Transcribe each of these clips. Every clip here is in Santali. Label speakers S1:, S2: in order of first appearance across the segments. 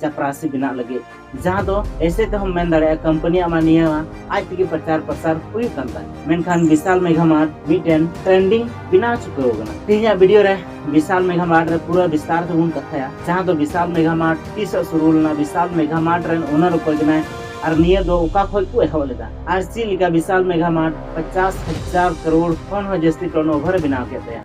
S1: ᱪᱟᱯᱨᱟᱥᱤ ᱵᱮᱱᱟᱜ ᱞᱟᱹᱜᱤᱫ ᱡᱟᱦᱟᱸ ᱫᱚ ᱮᱥᱮ ᱛᱮᱦᱚᱸ ᱢᱮᱱ ᱫᱟᱲᱮᱭᱟᱜᱼᱟ ᱠᱚᱢᱯᱟᱱᱤᱭᱟᱜ ᱢᱟ ᱱᱤᱭᱟᱹ ᱟᱡ ᱛᱮᱜᱮ ᱯᱨᱚᱪᱟᱨ ᱯᱨᱚᱥᱟᱨ ᱦᱩᱭᱩᱜ ᱠᱟᱱ ᱛᱟᱭ ᱢᱮᱱᱠᱷᱟᱱ ᱵᱤᱥᱟᱞ ᱢᱮᱜᱷᱟ ᱢᱟᱨᱴ ᱢᱤᱫᱴᱮᱱ ᱴᱨᱮᱱᱰᱤᱝ ᱵᱮᱱᱟᱣ ᱪᱩᱠᱟᱹᱣ ᱠᱟᱱᱟ ᱛᱮᱦᱮᱧᱟᱜ ᱵᱷᱤᱰᱤᱭᱳ ᱨᱮ ᱵᱤᱥᱟᱞ ᱢᱮᱜᱷᱟ ᱢᱟᱨᱴ ᱨᱮ ᱯᱩᱨᱟᱹ ᱵᱤᱥᱛᱟᱨ ᱛᱮᱵᱚᱱ ᱠᱟᱛᱷᱟᱭᱟ ᱡᱟᱦᱟᱸ ᱫᱚ ᱵᱤᱥᱟᱞ ᱢᱮᱜᱷᱟ ᱢᱟᱨᱴ ᱛᱤᱥᱚᱜ ᱥᱩᱨᱩ ᱞᱮᱱᱟ ᱵᱤᱥᱟᱞ ᱢᱮᱜᱷᱟ ᱢᱟᱨᱴ ᱨᱮᱱ ᱳᱱᱟᱨ ᱚᱠᱚᱭ ᱠᱟᱱᱟᱭ ᱟᱨ ᱱᱤᱭᱟᱹ ᱫᱚ ᱚᱠᱟ ᱠᱷᱚᱡ ᱠᱚ ᱮᱦᱚᱵ ᱞᱮᱫᱟ ᱟᱨ ᱪᱮᱫ ᱞᱮᱠᱟ ᱵᱤᱥᱟᱞ ᱢᱮᱜᱷᱟ ᱢᱟᱨᱴ ᱯᱚᱪᱟᱥ ᱦᱟᱡᱟᱨ ᱠᱟᱨᱳᱲ ᱠᱷᱚᱱ ᱦᱚᱸ ᱡᱟᱹᱥᱛᱤ ᱴᱚᱱ ᱳᱵᱷᱟᱨ ᱵᱮᱱᱟᱣ ᱠᱮᱫ ᱛᱟᱭᱟ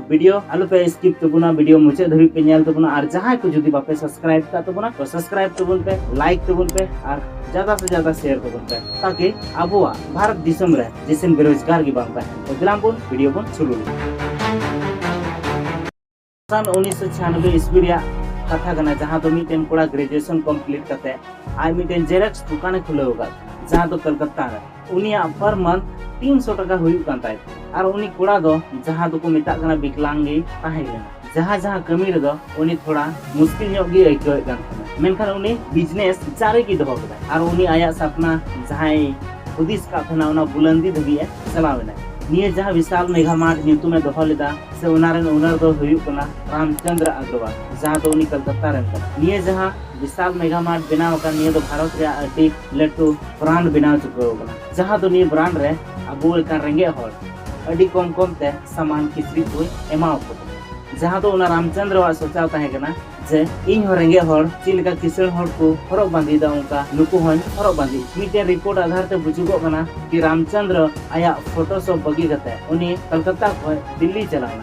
S1: ᱵᱷᱤᱰᱤᱭᱳ ᱟᱞᱚᱯᱮ ᱥᱠᱤᱯ ᱛᱟᱵᱚᱱᱟ ᱵᱷᱤᱰᱤᱭᱳ ᱢᱩᱪᱟᱹᱫ ᱫᱷᱟᱹᱵᱤᱡ ᱯᱮ ᱧᱮᱞ ᱛᱟᱵᱚᱱᱟ ᱟᱨ ᱡᱟᱦᱟᱸᱭ ᱠᱚ ᱡᱩᱫᱤ ᱵᱟᱯᱮ ᱥᱟᱵᱥᱠᱨᱟᱭᱤᱵ ᱠᱟᱜ ᱛᱟᱵᱚᱱᱟ ᱛᱚ ᱥᱟᱵᱥᱠᱨᱟᱭᱤᱵ ᱛᱟᱵᱚᱱ ᱯᱮ ᱞᱟᱭᱤᱠ ᱛᱟᱵᱚᱱ ᱯᱮ ᱟᱨ ᱡᱟᱫᱟ ᱥᱮ ᱡᱟᱫᱟ ᱥᱮᱭᱟᱨ ᱛᱟᱵᱚᱱ ᱯᱮ ᱛᱟᱠᱤ ᱟᱵᱚᱣᱟᱜ ᱵᱷᱟᱨᱚᱛ ᱫᱤᱥᱚᱢ ᱨᱮ ᱡᱮᱥᱮᱱ ᱵᱮᱨᱳᱡᱽᱜᱟᱨ ᱜᱮ ᱵᱟᱝ ᱛᱟᱦᱮᱱ ᱛᱚ ᱫᱮᱞᱟᱝ ᱵᱚᱱ ᱵᱷᱤᱰᱤᱭᱳ ᱵᱚᱱ ᱥᱩᱨᱩ ᱞᱮᱫᱟ ᱥᱟᱱ ᱩᱱᱤᱥᱥᱚ ᱪᱷᱤᱭᱟᱱᱚᱵᱵᱮ ᱤᱥᱵᱤ ᱨᱮᱭᱟᱜ ᱠᱟᱛᱷᱟ ᱠᱟᱱᱟ ᱡᱟᱦᱟᱸ ᱫᱚ ᱢᱤᱫᱴᱮᱱ ᱠᱚᱲᱟ ᱜᱨᱮᱡᱩᱭᱮᱥᱚᱱ ᱠᱚᱢᱯᱞᱤᱴ ᱠᱟᱛᱮ ᱟᱡ ᱢᱤᱫᱴᱮᱱ ᱡᱮᱨᱮᱠᱥ ᱫᱚᱠᱟᱱᱮ ᱠᱷᱩᱞᱟᱹᱣ ᱟᱠᱟᱫ ᱡᱟᱦᱟᱸ ᱫᱚ ᱠᱚᱞᱠᱟᱛᱟ ᱨᱮ ᱩᱱᱤᱭᱟᱜ ᱯᱟᱨ ᱢᱟᱱᱛᱷ ᱛᱤᱱ ᱥᱚ ᱴᱟᱠᱟ ᱦᱩᱭᱩᱜ ᱠᱟᱱ ᱛᱟᱭ ᱛᱟᱦᱮᱸᱫ ᱟᱨ ᱩᱱᱤ ᱠᱚᱲᱟ ᱫᱚ ᱡᱟᱦᱟᱸ ᱫᱚᱠᱚ ᱢᱮᱛᱟᱜ ᱠᱟᱱᱟ ᱵᱤᱠᱞᱟᱝ ᱜᱮᱭ ᱛᱟᱦᱮᱸ ᱞᱮᱱᱟ ᱡᱟᱦᱟᱸ ᱡᱟᱦᱟᱸ ᱠᱟᱹᱢᱤ ᱨᱮᱫᱚ ᱩᱱᱤ ᱛᱷᱚᱲᱟ ᱢᱩᱥᱠᱤᱞ ᱧᱚᱜ ᱜᱮᱭ ᱟᱹᱭᱠᱟᱹᱣᱮᱫ ᱠᱟᱱ ᱛᱟᱦᱮᱸᱱᱟ ᱢᱮᱱᱠᱷᱟᱱ ᱩᱱᱤ ᱵᱤᱡᱽᱱᱮᱥ ᱡᱟᱨᱤ ᱜᱮ ᱫᱚᱦᱚ ᱠᱮᱫᱟᱭ ᱟᱨ ᱩᱱᱤ ᱟᱭᱟᱜ ᱥᱟᱯᱱᱟ ᱡᱟᱦᱟᱸᱭ ᱦᱩᱫᱤᱥ ᱟᱠᱟᱫ ᱛᱟᱦᱮᱸᱱᱟ ᱚᱱᱟ ᱵᱩᱞᱟᱹᱱᱫᱤ ᱫᱷᱟᱹᱵᱤᱡ ᱮ ᱪᱟᱞᱟᱣ ᱮᱱᱟᱭ ᱱᱤᱭᱟᱹ ᱡᱟᱦᱟᱸ ᱵᱤᱥᱟᱞ ᱢᱮᱜᱷᱟ ᱢᱟᱨᱴ ᱧᱩᱛᱩᱢ ᱮ ᱫᱚᱦᱚ ᱞᱮᱫᱟ ᱥᱮ ᱚᱱᱟ ᱨᱮᱱ ᱳᱱᱟᱨ ᱫᱚᱭ ᱦᱩᱭᱩᱜ ᱠᱟᱱᱟ ᱨᱟᱢᱪᱚᱸᱫᱽᱨᱚ ᱟᱜᱽᱨᱚᱣᱟᱞ ᱡᱟᱦᱟᱸ ᱫᱚ ᱩᱱᱤ ᱠᱚᱞᱠᱟᱛᱟ ᱨᱮᱱ ᱠᱟᱱᱟᱭ ᱱᱤᱭᱟᱹ ᱡᱟᱦᱟᱸ ᱵᱤᱥᱟᱞ ᱢᱮᱜᱷᱟ ᱢᱟᱨᱴ ᱵᱮᱱᱟᱣ ᱟᱠᱟᱱ ᱱᱤᱭᱟᱹ ᱫᱚ ᱵᱷᱟᱨᱚᱛ ᱨᱮᱭᱟᱜ ᱟᱹᱰᱤ ᱞᱟᱹᱴᱩ ᱵᱨᱟᱱᱰ ᱵᱮᱱᱟᱣ ᱪᱩᱠᱟᱹᱣ ᱟᱠᱟᱱᱟ ᱡᱟᱦᱟᱸ ᱫᱚ ᱱᱤᱭᱟᱹ ᱵᱨᱟᱱᱰ ᱨᱮ ᱟᱵᱚ ᱞᱮᱠᱟᱱ ᱨᱮᱸᱜᱮᱡ ᱦᱚᱲ ᱟᱹᱰᱤ ᱠᱚᱢ ᱠᱚᱢ ᱛᱮ ᱥᱟᱢᱟᱱ ᱠᱤᱪᱨᱤᱡ ᱠᱚ ᱮᱢᱟ ᱟᱠᱚ ᱠᱟᱱᱟ ᱡᱟᱦᱟᱸ ᱫᱚ ᱚᱱᱟ ᱨᱟᱢᱪᱚᱸᱫᱽᱨᱚᱣᱟᱜ ᱥᱚᱪᱟᱣ ᱛᱟᱦᱮᱸ ᱠᱟᱱᱟ ᱡᱮ ᱤᱧ ᱦᱚᱸ ᱨᱮᱸᱜᱮᱡ ᱦᱚᱲ ᱪᱮᱫ ᱞᱮᱠᱟ ᱠᱤᱥᱟᱹᱬ ᱦᱚᱲ ᱠᱚ ᱦᱚᱨᱚᱜ ᱵᱟᱸᱫᱮᱭᱮᱫᱟ ᱚᱱᱠᱟ ᱱᱩᱠᱩ ᱦᱚᱸᱧ ᱦᱚᱨᱚᱜ ᱵᱟᱸᱫᱮ ᱢᱤᱫᱴᱮᱱ ᱨᱤᱯᱳᱨᱴ ᱟᱫᱷᱟᱨ ᱛᱮ ᱵᱩᱡᱩᱜᱚᱜ ᱠᱟᱱᱟ ᱠᱤ ᱨᱟᱢᱪᱚᱸᱫᱽᱨᱚ ᱟᱭᱟᱜ ᱯᱷᱳᱴᱳᱥᱚᱯ ᱵᱟᱹᱜᱤ ᱠᱟᱛᱮ ᱩᱱᱤ ᱠᱚᱞᱠᱟᱛᱟ ᱠᱷᱚᱱ ᱫᱤᱞᱞᱤ ᱪᱟᱞᱟᱣ ᱮᱱᱟ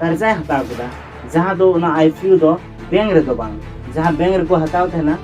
S1: ᱠᱟᱨᱡᱟᱭ ᱦᱟᱛᱟᱣ ᱠᱮᱫᱟ ᱡᱟᱦᱟᱸ ᱫᱚ ᱚᱱᱟ ᱟᱭ ᱯᱤ ᱭᱩ ᱫᱚ ᱵᱮᱝᱠ ᱨᱮᱫᱚ ᱵᱟᱝ ᱡᱟᱦᱟᱸ ᱵᱮᱝᱠ ᱨᱮᱠᱚ ᱦᱟᱛᱟᱣ ᱛᱟᱦᱮᱱᱟ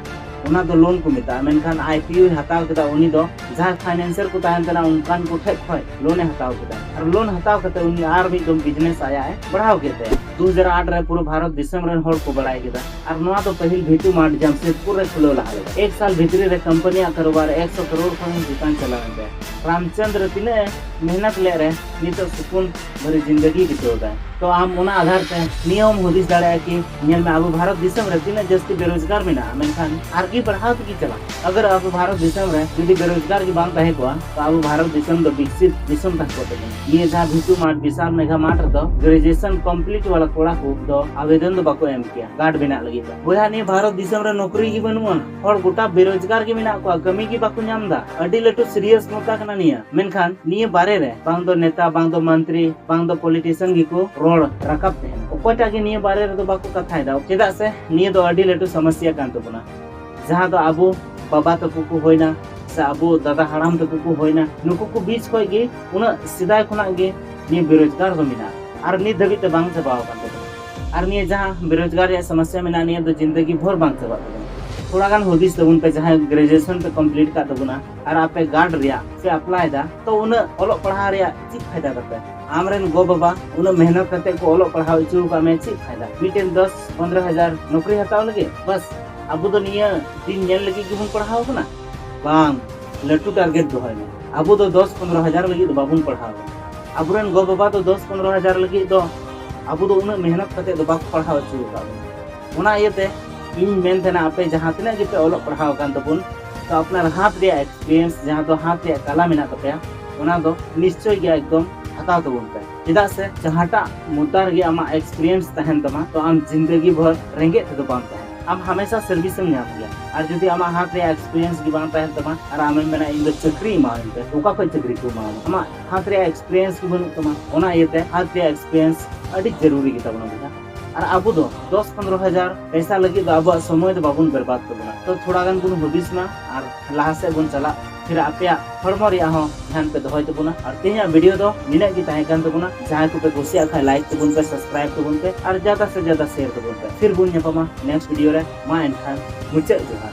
S1: ᱚᱱᱟ ᱫᱚ ᱞᱳᱱ ᱠᱚ ᱢᱮᱛᱟᱜᱼᱟ ᱢᱮᱱᱠᱷᱟᱱ ᱟᱭ ᱯᱤ ᱭᱩᱭ ᱦᱟᱛᱟᱣ ᱠᱮᱫᱟ ᱩᱱᱤ ᱫᱚ ᱡᱟᱦᱟᱸ ᱯᱷᱟᱭᱱᱮᱱᱥᱟᱨ ᱠᱚ ᱛᱟᱦᱮᱱ ᱠᱟᱱᱟ ᱚᱱᱠᱟᱱ ᱠᱚ ᱴᱷᱮᱡ ᱠᱷᱚᱡ ᱞᱳᱱᱮ ᱦᱟᱛᱟᱣ ᱠᱮᱫᱟ ᱟᱨ ᱞᱳᱱ ᱦᱟᱛᱟᱣ ᱠᱟᱛᱮ ᱩᱱᱤ ᱟᱨ ᱢᱤᱫ ᱫᱚᱢ ᱵᱤᱡᱽᱱᱮᱥ ᱟᱭᱟᱜ ᱮ ᱵᱟᱲᱦᱟᱣ ᱠᱮᱫ ᱛᱟᱭᱟ ᱫᱩ ᱦᱟᱡᱟᱨ ᱟᱴ ᱨᱮ ᱯᱩᱨᱟᱹ ᱵᱷᱟᱨᱚᱛ ᱫᱤᱥᱚᱢ ᱨᱮᱱ ᱦᱚᱲ ᱠᱚ ᱵᱟᱲᱟᱭ ᱠᱮᱫᱟ ᱟᱨ ᱱᱚᱣᱟ ᱫᱚ ᱯᱟᱹᱦᱤᱞ ᱵᱷᱤᱴᱩ ᱢᱟᱨᱴ ᱡᱟᱢᱥᱮᱫᱽᱯᱩᱨ ᱨᱮ ᱠᱷᱩᱞᱟᱹᱣ ᱞᱟᱦᱟ ᱞᱮᱫᱟ ᱮᱠ ᱥᱟᱞ ᱵᱷᱤᱛᱨᱤ ᱨᱮ ᱠᱚᱢᱯᱟᱱᱤᱭᱟᱜ ᱠᱟᱨᱳᱵᱟᱨ ᱮᱠᱥᱚ ᱠᱨᱳᱲ ᱠᱷᱚᱱ ᱦᱚᱸ ᱪᱮᱛᱟᱱ ᱪᱟᱞᱟᱣᱮᱱ ᱛᱟᱭᱟ ᱨᱟᱢᱪᱚᱸᱫᱽᱨ ᱛᱤᱱᱟᱹᱜ ᱮ ᱢᱮᱦᱱᱚᱛ ᱞᱮᱫ ᱨᱮ ᱱᱤᱛᱚᱜ ᱥᱩᱠᱩᱱ ᱵᱷᱟᱹᱨᱤ ᱡᱤᱱᱫᱮᱜᱤ ᱵᱤᱛᱟᱹᱣ ᱮᱫᱟ ᱛᱚ ᱟᱢ ᱚᱱᱟ ᱟᱫᱷᱟᱨ ᱛᱮ ᱱᱤᱭᱟᱹ ᱦᱚᱸᱢ ᱦᱩᱫᱤᱥ ᱫᱟᱲᱮᱭᱟᱜᱼᱟ ᱠᱤ ᱧᱮᱞ ᱢᱮ ᱟᱵᱚ ᱵᱷᱟᱨᱚᱛ ᱫᱤᱥᱚᱢ ᱨᱮ ᱛᱤᱱᱟᱹᱜ ᱡᱟᱹᱥᱛᱤ ᱵᱮᱨᱳᱡᱽᱜᱟᱨ ᱢᱮᱱᱟᱜᱼᱟ ᱢᱮᱱᱠᱷᱟᱱ ᱟᱨᱜᱮ ᱵᱟᱲᱦᱟᱣ ᱛᱮᱜᱮ ᱪᱟᱞᱟᱜᱼᱟ ᱟᱜᱟᱨ ᱟᱵᱚ ᱵᱷᱟᱨᱚᱛ ᱫᱤᱥᱚᱢ ᱨᱮ ᱡᱩᱫᱤ ᱵᱮᱨᱳᱡᱽᱜᱟᱨ ᱜᱮ ᱵᱟᱝ ᱛᱟᱦᱮᱸ ᱠᱚᱜᱼᱟ ᱛᱚ ᱟᱵᱚ ᱵᱷᱟᱨᱚᱛ ᱫᱤᱥᱚᱢ ᱫᱚ ᱵᱤᱠᱥᱤᱛ ᱫᱤᱥᱚᱢ ᱛᱟᱦᱮᱸ ᱠᱚᱜ ᱛᱟᱵᱚᱱᱟ ᱱᱤᱭᱟᱹ ᱡᱟᱦᱟᱸ ᱵᱷᱤᱴᱩ ᱢᱟᱴ ᱵᱤᱥᱟᱞ ᱢᱮᱜᱷᱟ ᱢᱟᱴ ᱨᱮᱫᱚ ᱜᱨᱮᱡᱩᱭᱮᱥᱚᱱ ᱠᱚᱢᱯᱞᱤᱴ ᱣᱟᱞᱟ ᱠᱚᱲᱟ ᱠᱚ ᱫᱚ ᱟᱵᱮᱫᱚᱱ ᱫᱚ ᱵᱟᱠᱚ ᱮᱢ ᱠᱮᱭᱟ ᱠᱟᱨᱰ ᱵᱮᱱᱟᱜ ᱞᱟᱹᱜᱤᱫ ᱫᱚ ᱵᱚᱭᱦᱟ ᱱᱤᱭᱟᱹ ᱵᱷᱟᱨᱚᱛ ᱫᱤᱥᱚᱢ ᱨᱮ ᱱᱚᱠᱨᱤ ᱜᱮ ᱵᱟᱹᱱᱩᱜᱼᱟ ᱦᱚᱲ ᱜᱚᱴᱟ ᱵᱮᱨᱳᱡᱽᱜᱟᱨ ᱜᱮ ᱢᱮᱱᱟᱜ ᱠᱚᱣᱟ ᱠᱟᱹᱢᱤ ᱜᱮ ᱵᱟᱠᱚ ᱧᱟᱢ ᱮᱫᱟ ᱟᱹᱰᱤ ᱞᱟᱹᱴᱩ ᱥᱤᱨᱤᱭᱟᱥ ᱢᱩᱫᱽᱫᱟ ᱠᱟᱱᱟ ᱱᱤᱭᱟᱹ ᱢᱮᱱᱠᱷᱟᱱ ᱱᱤᱭᱟᱹ ᱵᱟᱨᱮ ᱨᱮ ᱵᱟᱝ ᱫᱚ ᱱᱮᱛᱟ ᱵᱟᱝ ᱫᱚ ᱢᱚᱱᱛᱨᱤ ᱵᱟᱝ ᱫᱚ ᱯᱚᱞᱤᱴᱤᱥᱤᱭᱟᱱ ᱜᱮᱠᱚ ᱨᱚᱲ ᱨᱟᱠᱟᱵ ᱛᱟᱦᱮᱱ ᱚᱠᱚᱭᱴᱟᱜ ᱜᱮ ᱱᱤᱭᱟᱹ ᱵᱟᱨᱮ ᱨᱮᱫᱚ ᱵᱟᱠᱚ ᱠᱟᱛᱷᱟᱭᱮᱫᱟ ᱪᱮᱫᱟᱜ ᱥᱮ ᱱᱤᱭᱟᱹ ᱫᱚ ᱟᱹᱰᱤ ᱞᱟᱹᱴᱩ ᱥᱚᱢᱚᱥᱥᱟ ᱠᱟᱱ ᱛᱟᱵᱚᱱᱟ ᱡᱟᱦᱟᱸ ᱫᱚ ᱟᱵᱚ ᱵᱟᱵᱟ ᱛᱟᱠᱚ ᱠᱚ ᱦᱩᱭᱱᱟ ᱥᱮ ᱟᱵᱚ ᱫᱟᱫᱟ ᱦᱟᱲᱟᱢ ᱛᱟᱠᱚ ᱠᱚ ᱦᱩᱭᱱᱟ ᱱᱩᱠᱩ ᱠᱚ ᱵᱤᱪ ᱠᱷᱚᱱ ᱜᱮ ᱩᱱᱟᱹᱜ ᱥᱮᱫᱟᱭ ᱠᱷᱚᱱᱟᱜ ᱜᱮ ᱱᱤᱭᱟᱹ ᱵᱮᱨᱳᱡᱽᱜᱟᱨ ᱫᱚ ᱢᱮᱱᱟᱜᱼᱟ ᱟᱨ ᱱᱤᱛ ᱫᱷᱟᱹᱵᱤᱡ ᱛᱮ ᱵᱟᱝ ᱪᱟᱵᱟᱣ ᱟᱠᱟᱱ ᱛᱟᱵᱚᱱᱟ ᱟᱨ ᱱᱤᱭᱟᱹ ᱡᱟᱦᱟᱸ ᱵᱮᱨᱳᱡᱽᱜᱟᱨ ᱨᱮᱭᱟᱜ ᱥᱚᱢᱚᱥᱥᱟ ᱢᱮᱱᱟᱜᱼᱟ ᱱᱤᱭᱟᱹ ᱫᱚ ᱡᱤᱱᱫᱮᱜᱤ ᱵᱷᱳᱨ ᱵᱟᱝ ᱪᱟᱵᱟᱜ ᱛᱟᱵᱚᱱᱟ ᱛᱷᱚᱲᱟ ᱜᱟᱱ ᱦᱩᱫᱤᱥ ᱛᱟᱵᱚᱱ ᱯᱮ ᱡᱟᱦᱟᱸᱭ ᱜᱨᱮᱡᱩᱭᱮᱥᱚᱱ ᱯᱮ ᱠᱚᱢᱯᱞᱤᱴ ᱠᱟᱜ ᱛᱟᱵᱚᱱᱟ ᱟᱨ ᱟᱯᱮ ᱜᱟᱨᱰ ᱨᱮᱭᱟᱜ ᱯᱮ ᱟᱯᱞᱟᱭ ᱫᱟ ᱛᱚ ᱩᱱᱟᱹᱜ ᱚᱞᱚᱜ ᱯᱟᱲᱦᱟᱣ ᱨᱮᱭᱟᱜ ᱪᱮᱫ ᱯᱷᱟᱭᱫᱟ ᱛᱟᱯᱮ ᱟᱢ ᱨᱮᱱ ᱜᱚ ᱵᱟᱵᱟ ᱩᱱᱟᱹᱜ ᱢᱮᱦᱱᱚᱛ ᱠᱟᱛᱮ ᱠᱚ ᱚᱞᱚᱜ ᱯᱟᱲᱦᱟᱣ ᱦᱚᱪᱚ ᱟᱠᱟᱫ ᱢᱮ ᱪᱮᱫ ᱯᱷᱟᱭᱫᱟ ᱢᱤᱫᱴᱮᱱ ᱫᱚᱥ ᱯᱚᱱᱫᱨᱚ ᱦᱟᱡᱟᱨ ᱱᱚᱠᱨᱤ ᱦᱟᱛᱟᱣ ᱞᱟᱹᱜᱤᱫ ᱵᱟᱥ ᱟᱵᱚ ᱫᱚ ᱱᱤᱭᱟᱹ ᱫᱤᱱ ᱧᱮᱞ ᱞᱟᱹᱜᱤᱫ ᱜᱮᱵᱚᱱ ᱯᱟᱲᱦᱟᱣ ᱠᱟᱱᱟ ᱵᱟᱝ ᱞᱟᱹᱴᱩ ᱴᱟᱨᱜᱮᱴ ᱫᱚᱦᱚᱭ ᱢᱮ ᱟᱵᱚ ᱫᱚ ᱫᱚᱥ ᱯᱚᱱᱫᱨᱚ ᱦᱟᱡᱟᱨ ᱞᱟᱹᱜᱤᱫ ᱫᱚ ᱵᱟᱵᱚᱱ ᱯᱟᱲᱦᱟᱣ ᱠᱟᱱᱟ ᱟᱵᱚᱨᱮᱱ ᱜᱚ ᱵᱟᱵᱟ ᱫᱚ ᱫᱚᱥ ᱯᱚᱱᱨᱚ ᱦᱟᱡᱟᱨ ᱞᱟᱹᱜᱤᱫ ᱫᱚ ᱟᱵᱚ ᱫᱚ ᱩᱱᱟᱹᱜ ᱢᱮᱦᱱᱚᱛ ᱠᱟᱛᱮ ᱫᱚ ᱵᱟᱠᱚ ᱯᱟᱲᱦᱟᱣ ᱦᱚᱪᱚ ᱟᱠᱟᱫ ᱵᱚᱱᱟ ᱚᱱᱟ ᱤᱭᱟᱹᱛᱮ ᱤᱧ ᱢᱮᱱ ᱛᱟᱦᱮᱱᱟ ᱟᱯᱮ ᱡᱟᱦᱟᱸ ᱛᱤᱱᱟᱹᱜ ᱜᱮᱯᱮ ᱚᱞᱚᱜ ᱯᱟᱲᱦᱟᱣ ᱟᱠᱟᱱ ᱛᱟᱵᱚᱱ ᱛᱚ ᱟᱯᱱᱟᱨ ᱦᱟᱛ ᱨᱮᱭᱟᱜ ᱮᱠᱥᱯᱤᱨᱤᱭᱮᱱᱥ ᱡᱟᱦᱟᱸ ᱫᱚ ᱦᱟᱛ ᱨᱮᱭᱟᱜ ᱠᱟᱞᱟ ᱢᱮᱱᱟᱜ ᱛᱟᱯᱮᱭᱟ ᱚᱱᱟ ᱫᱚ ᱱᱤᱥᱪᱚᱭ ᱜᱮ ᱮᱠᱫᱚᱢ ᱦᱟᱛᱟᱣ ᱛᱟᱵᱚᱱ ᱯᱮ ᱪᱮᱫᱟᱜ ᱥᱮ ᱡᱟᱦᱟᱸᱴᱟᱜ ᱢᱩᱫᱽᱫᱟ ᱨᱮᱜᱮ ᱟᱢᱟᱜ ᱮᱠᱥᱯᱤᱨᱤᱭᱮᱱᱥ ᱛᱟᱦᱮᱱ ᱛᱟᱢᱟ ᱛᱚ ᱟᱢ ᱡᱤᱱᱫᱮᱜᱤ ᱵᱷᱚᱨ ᱨᱮᱸᱜᱮᱡ ᱛᱮᱫᱚ ᱵᱟᱢ ᱛᱟᱦᱮᱱᱟ ᱟᱢ ᱦᱟᱢᱮᱥᱟ ᱥᱟᱨᱵᱷᱤᱥ ᱮᱢ ᱧᱟᱢ ᱜᱮᱭᱟ ᱟᱨ ᱡᱩᱫᱤ ᱟᱢᱟᱜ ᱦᱟᱛ ᱨᱮᱭᱟᱜ ᱮᱠᱥᱯᱤᱨᱤᱭᱮᱱᱥ ᱜᱮ ᱵᱟᱝ ᱛᱟᱦᱮᱱ ᱛᱟᱢᱟ ᱟᱨ ᱟᱢᱮᱢ ᱢᱮᱱᱟ ᱤᱧ ᱫᱚ ᱪᱟᱹᱠᱨᱤ ᱮᱢᱟᱣᱟᱹᱧ ᱯᱮ ᱚᱠᱟ ᱠᱷᱚᱱ ᱪᱟᱹᱠᱨᱤ ᱠᱚ ᱮᱢᱟᱣᱟᱢᱟ ᱟᱢᱟᱜ ᱦᱟᱛ ᱨᱮᱭᱟᱜ ᱮᱠᱥᱯᱮᱨᱤᱭᱮᱱᱥ ᱜᱮ ᱵᱟᱹᱱᱩᱜ ᱛᱟᱢᱟ ᱚᱱᱟ ᱤᱭᱟᱹᱛᱮ ᱦᱟᱛ ᱨᱮᱭᱟᱜ ᱮᱠᱥᱯᱮᱨᱤᱭᱮᱱᱥ ᱟᱹᱰᱤ ᱡᱟᱹᱨᱩᱨᱤ ᱜᱮ ᱛᱟᱵᱚᱱᱟ ᱵᱚᱭᱦᱟ ᱟᱨ ᱟᱵᱚ ᱫᱚ ᱫᱚᱥ ᱯᱚᱱᱨᱚ ᱦᱟᱡᱟᱨ ᱯᱮᱥᱟ ᱞᱟᱹᱜᱤᱫ ᱫᱚ ᱟᱵᱚᱣᱟᱜ ᱥᱚᱢᱚᱭ ᱫᱚ ᱵᱟᱵᱚᱱ ᱵᱮᱨᱵᱟᱫ ᱛᱟᱵᱚᱱᱟ ᱛᱚ ᱛᱷᱚᱲᱟ ᱜᱟᱱ ᱵᱚᱱ ᱦᱩᱫᱤᱥ ᱢᱟ ᱟᱨ ᱞᱟᱦᱟ ᱥᱮᱫ ᱵᱚᱱ ᱪᱟᱞᱟᱜ ᱯᱷᱤᱨ ᱟᱯᱮᱭᱟᱜ ᱦᱚᱲᱢᱚ ᱨᱮᱭᱟᱜ ᱦᱚᱸ ᱫᱷᱮᱭᱟᱱ ᱯᱮ ᱫᱚᱦᱚᱭ ᱛᱟᱵᱚᱱᱟ ᱟᱨ ᱛᱮᱦᱮᱧᱟᱜ ᱵᱷᱤᱰᱤᱭᱳ ᱫᱚ ᱱᱤᱱᱟᱹᱜ ᱜᱮ ᱛᱟᱦᱮᱸ ᱠᱟᱱ ᱛᱟᱵᱚᱱᱟ ᱡᱟᱦᱟᱸᱭ ᱠᱚᱯᱮ ᱠᱩᱥᱤᱭᱟᱜ ᱠᱷᱟᱱ ᱞᱟᱭᱤᱠ ᱛᱟᱵᱚᱱ ᱯᱮ ᱥᱟᱵᱥᱠᱨᱟᱭᱤᱵ ᱛᱟᱵᱚᱱ ᱯᱮ ᱟᱨ ᱡᱟᱫᱟ ᱥᱮ ᱡᱟᱫᱟ ᱥᱮᱭᱟᱨ ᱛᱟᱵᱚᱱ ᱯᱮ ᱯᱷᱤᱨ ᱵᱚᱱ ᱧᱟᱯᱟᱢᱟ ᱱᱮᱠᱥᱴ ᱵᱷᱤᱰᱤᱭᱳ ᱨᱮ ᱢᱟ ᱮᱱᱠᱷᱟᱱ ᱢᱩᱪᱟᱹᱫ ᱡᱚᱦᱟᱨ